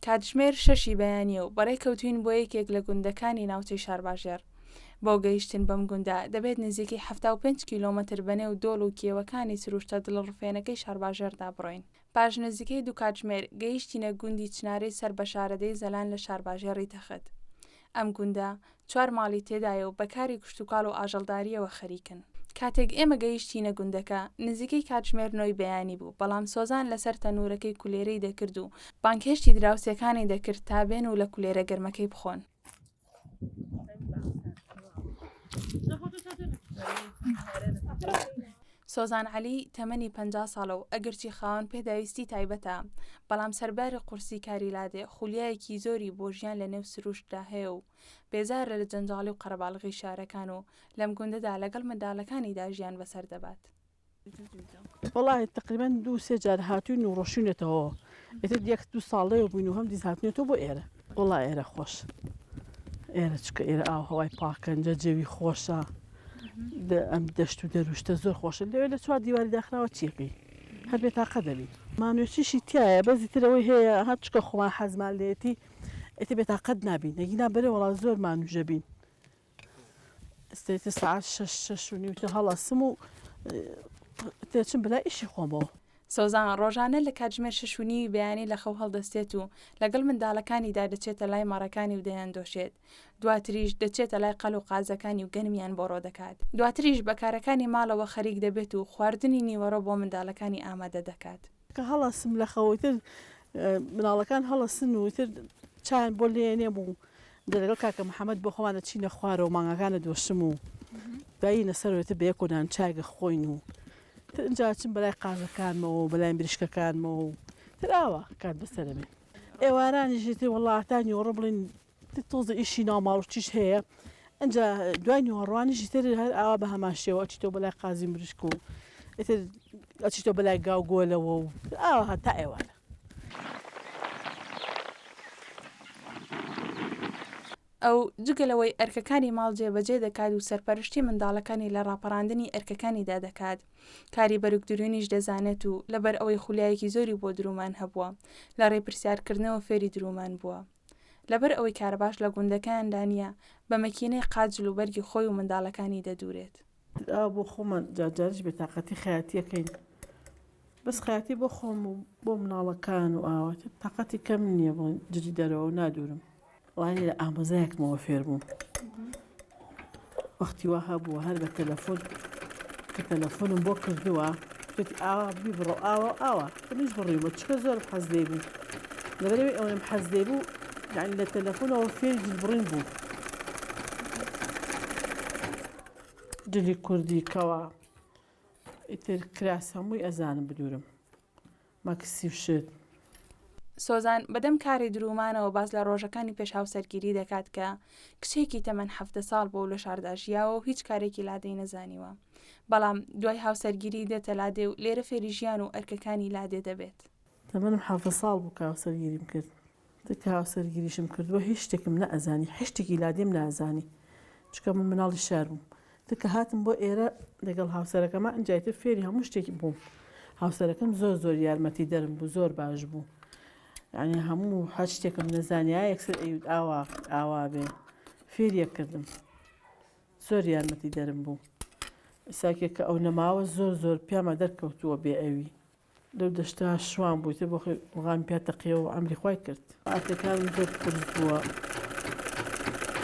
کاتژمێر شەشی بەیانیە و بەڕێ کەوتوین بۆ یەکێک لە گوندەکانی ناوچەی شارباژێر بۆ گەیشتن بەم گوندە دەبێت نزیکی 5 کیلومتر بەنێو دۆڵ و کێوەکانی سروشتە دڵڕفێنەکەی شارباژێردا بڕۆین پاش نزیکەی دوو کاتژمێر گەیشتینە گوندی چنارەی سەر بە شارەدێی زەلان لە شارباژێڕی تەخت. ئەم گوندە چوار ماڵی تێدایە و بە کاری کشتوکاڵ و ئاژەڵدارییەوە خەریکن. کاتێک ئێمە گەیشتینە گوندەکە، نزیکەی کاتژمێر نۆی بەیانی بوو، بەڵام سۆزان لەسەر تەنوورەکەی کولێرەی دەکرد و بانگهێشتی دراوسێکانی دەکرد تا بێن و لە کولێرە گەرمەکەی بخۆن. سۆزان عەلی تەمەنی پ ساڵە و ئەگەرچی خاوەن پێداویستی تایبەتە بەڵام سەرباری قورسی کاری لادێ خولیایەکی زۆری بۆ ژیان لە نێو سروشتدا هەیە و بێزارە لە جەنجاڵی و قەرەباڵغی شارەکان و لەم گوندەدا لەگەڵ منداڵەکانیدا ژیان بەسەر دەبات. وەڵا تەقریبەن دوو سێ جار هاتووین و ڕۆشونێتەوە ئێتر یەک دوو ساڵەیە بووین و هەم دیز هاتنێتەوە بۆ ئێرە وەڵا ئێرە خۆش ئێرە چکە ئێرە ئاو هەوای پاکەنجە جەوی خۆشە ئەم دەشت و دەروشتە زۆر خۆشە لەوێ لە چوار دیواری داخراوە چیەکەی هەر بێ تاقە دەبین مانوێچیشی تایە بەزی ترەوەی هەیە هەر چکە خۆمان حەزمان لێتی ئێتە بێ تاقەت نابین نەگینا بەرە وەڵا زۆر مانوژە بین ئیستێتی سەعات شەش شەش و نیوتە هەڵەسم و تێچم بلا ئیشی خۆمەوە سۆزان ڕۆژانە لە کاتژمێر شش و نیوی بەیانی لە خەو هەڵدەستێت و لەگەڵ منداڵەکانیدا دەچێتە لای مەڕەکانی و دەیان دۆشێت دواتریش دەچێتە لای قەل و قازەکانی و گەنمیان بۆڕۆ دەکات دواتریش بەکارەکانی ماڵەوە خەریک دەبێت و خواردنی نیوەڕۆ بۆ منداڵەکانی ئامادە دەکات کە هەڵەسم لە خەو ئیتر مناڵەکان هەڵەسن و ئیتر چایان بۆ لێنێم و دەلەگەڵ کاکە محەمەد بۆ خۆمان دەچینە خوارەوە و مانگاکانە دۆشم و دایینە سەر و ئیتر بە یەک و دان چای دەخۆین و تر ئینجا ئەچم بەلای قازەکانمەوە و بەلای مریشکەکانمەوە و تر ئاوا کات بەسەرە بێ ئێوارانیش ئیتر وەڵڵا هەتا نیوەڕۆ بڵێن تۆزێ ئیشی ناماروتیش هەیە ئەجا دوای نیوەڕوانیشی تر هەر ئاوا بە هەمان شێوە ئەچیتۆ بەلای قازی مریشک و ئیتر ئەچیتۆ بەلای گاو گۆلەوە و ئاوا هەتا ئێوارە ئەو جگە لەوەی ئەرکەکانی ماڵ جێبەجێ دەکات و سەرپەرشتی منداڵەکانی لە ڕاپەڕاندنی ئەرکەکانیدا دەکات کاری بەرگ دروونیش دەزانێت و لەبەر ئەوەی خولیایەکی زۆری بۆ درومان هەبووە لە ڕێ پرسیارکردنەوە فێری درومان بووە لەبەر ئەوەی کارەباش لە گوندەکەیاندا نییە، بە مەکینەی قاجل و بەرگی خۆی و منداڵەکانی دەدوورێت. ئاو بۆ خۆمان جار جاریش بێتاقەتی خەیاتی ئەکەین، بەس خەیاتی بۆ خۆم و بۆ منداڵەکان و ئاوا تر تاقەتی کەم نییە، بۆ جلی دەرەوە نادوورم، وانییە لە ئامۆزایەکمەوە فێر بووم. وەختی وا هەبووە هەر بە تەلەفۆن کە تەلەفۆنم بۆ کردووە پێتی ئاوا بیبڕۆ ئاوا ئاوا منیش بڕیوە چکە زۆر حەز لێ بوو لەبەرەوەی ئەوەم حەز لێ بوو یعنی لە تەلەفۆنەوە فێری جلبڕین بوو جلی کوردی کەوا ئیتر کراس هەمووی ئەزانم بدورم مەکسی شت. سۆزان بە دەم کاری دروومانەوە باس لە ڕۆژەکانی پێش هاوسەرگیری دەکات کە کچێکی تەمەن حەڤدە ساڵ بووە و لە شاردا ژیاوە و هیچ کارێکی لادێی نەزانیوە. بەڵام دوای هاوسەرگیری دێتە لادێ و لێرە فێری ژیان و ئەرکەکانی لادێ دەبێت. تەمەنم حەڤدە ساڵ بوو کە هاوسەرگیریم کرد. تکا هاوسەرگیریشم کردووە هیچ شتێکم نەئەزانی حشتێکی لادێم نازانی چکە من مناڵی شار بووم تکە هاتم بۆ ئێرە لەگەڵ هاوسەرەکەمە ئەجاتر فێری هەموو شتێکی بووم هاوسەرەکەم زۆر زۆر یارمەتی دەرم بوو زۆر باش بوو یعنی هەموو هەر شتێکم نەزانیا یەکسەر ئەیود ئاوا ئاوا بێ فێریەک کردم زۆر یارمەتی دەرم بوو ساکێک کە ئەو نەماوە زۆر زۆر پیامە دەرکەوتووە بێ ئەوی لەو دەشتا شوان بووی تۆ بۆخۆی مقامی پیا تەقیەوە و عەمری خوای کرد. ئاکەکانم زۆر قورس بووە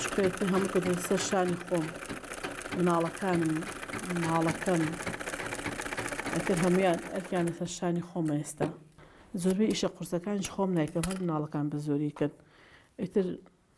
شکایەتی هەموو کردم سەر شانی خۆم مناڵەکانم ماڵەکەم ئەتر هەمویان ئەرکیان لەسەر شانی خۆمە ئێستا زۆربەی ئیشە قورسەکانیش خۆم نایکەم هەر مناڵەکان بە زۆری کەن ئیتر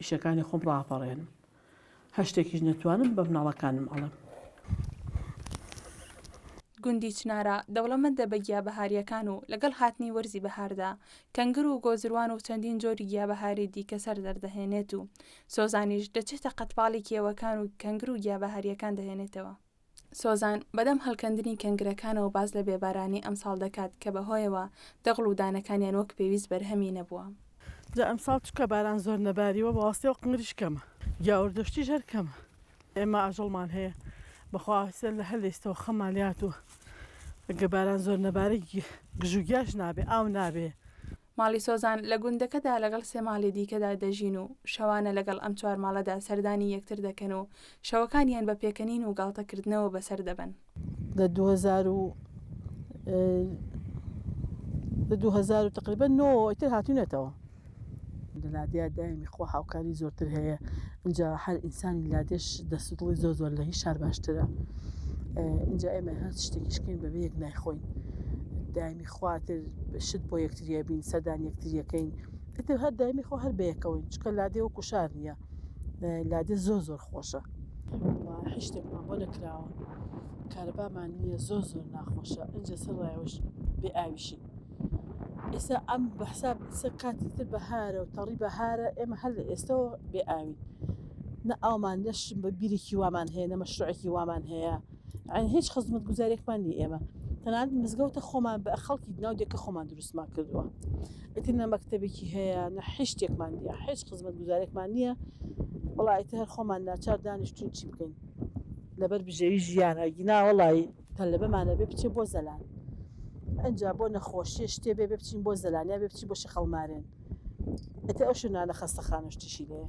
ئیشەکانی خۆم ڕاپەڕێنم. هەر شتێکیش نەتوانم بە مناڵەکانم ئەڵێم. گوندی چنارا دەوڵەمەندە بە گیا بەهارییەکان و لەگەڵ هاتنی وەرزی بەهاردا کەنگر و گۆزروان و چەندین جۆری گیا بەهاری دیکە سەر دەردەهێنێت و سۆزانیش دەچێتە قەتپاڵی کێوەکان و کەنگر و گیا بەهارییەکان دەهێنێتەوە. سۆزان بەدەم هەڵکەندنی کەنگرەکانەوە باس لە بێبارانی ئەمساڵ دەکات کە بەهۆیەوە دەغڵ و دانەکانیان وەک پێویست بەرهەمی نەبووە. جا ئەمساڵ چونکە باران زۆر نەباریوە بەواستەوە قنگریش کەمە گیاوردەشتیش هەر کەمە ئێمە ئاژەڵمان هەیە بەخوا هەسێن لە هەر لەیستەوە خەممان لێهاتووە گە باران زۆر نەبارێ گژوگیاش نابێ ئاو نابێ ماڵی سۆزان لە گوندەکەدا لەگەڵ سێ ماڵی دیکەدا دەژین و شەوانە لەگەڵ ئەم چوار ماڵەدا سەردانی یەکتر دەکەن و شەوەکانیان بە پێکەنین و گاڵتەکردنەوە بەسەر دەبەن. لە دوو هەزار و لە دوو هەزار و تقریبا نۆ ئیتر هاتوونەتەوە. لە لادێیا دایمی خوا هاوکاری زۆرتر هەیە اینجا هەر ئینسانی لادێش دەست و دڵی زۆر زۆر لە هیچ شار باشترە اینجا ئێمە هەر شتێکیشکین بەبێ یەک نایخۆین دایمی خواتر شت بۆ یەکتری ئەبین سەردانی یەکتری ئەکەین ئیتر هەر دایمی خۆ هەر بەیەکەوەین چکە لادێ وەکو شار نییە لادێ زۆر زۆر خۆشە هیچ شتێکمان بۆ نەکراوە کارەبامان نییە زۆر زۆر ناخۆشە ئەجە سەرڕایەوەش بێ ئاویشی ئێستا ئەم بەحساب ئیسە کاتی تر بەهارە و تەڕی بەهارە ئێمە هەر لە ئێستەوە بێ ئاوین نە ئاومان نەش بە بیرێکی وامان هەیە نە مەشروعێکی وامان هەیە یانی هیچ خزمەتگوزاریەکمان نی ئێمە تەنانەت مزگەوتە خۆمان بە خەڵکی ناو دێکە خۆمان دروستمان کردووە ئیتر نە مەکتتەبێکی هەیە نە حشتێکمان دیە هیچ خزمەتگوزارێکمان نییە وڵایتە هەر خۆمان ناچار دانیشتون چی بکەین لەبەر بژێوی ژیانە گیناوەڵی تەلەبەمانە بێ بچێ بۆ زەلان ئەجا بۆ نەخۆشیە شتێ بێ بچین بۆ زەلانیا بێ بچی بۆ شەقەڵمارێن ئەتە ئەو شوێنانە خەستە خانشتیشی لێە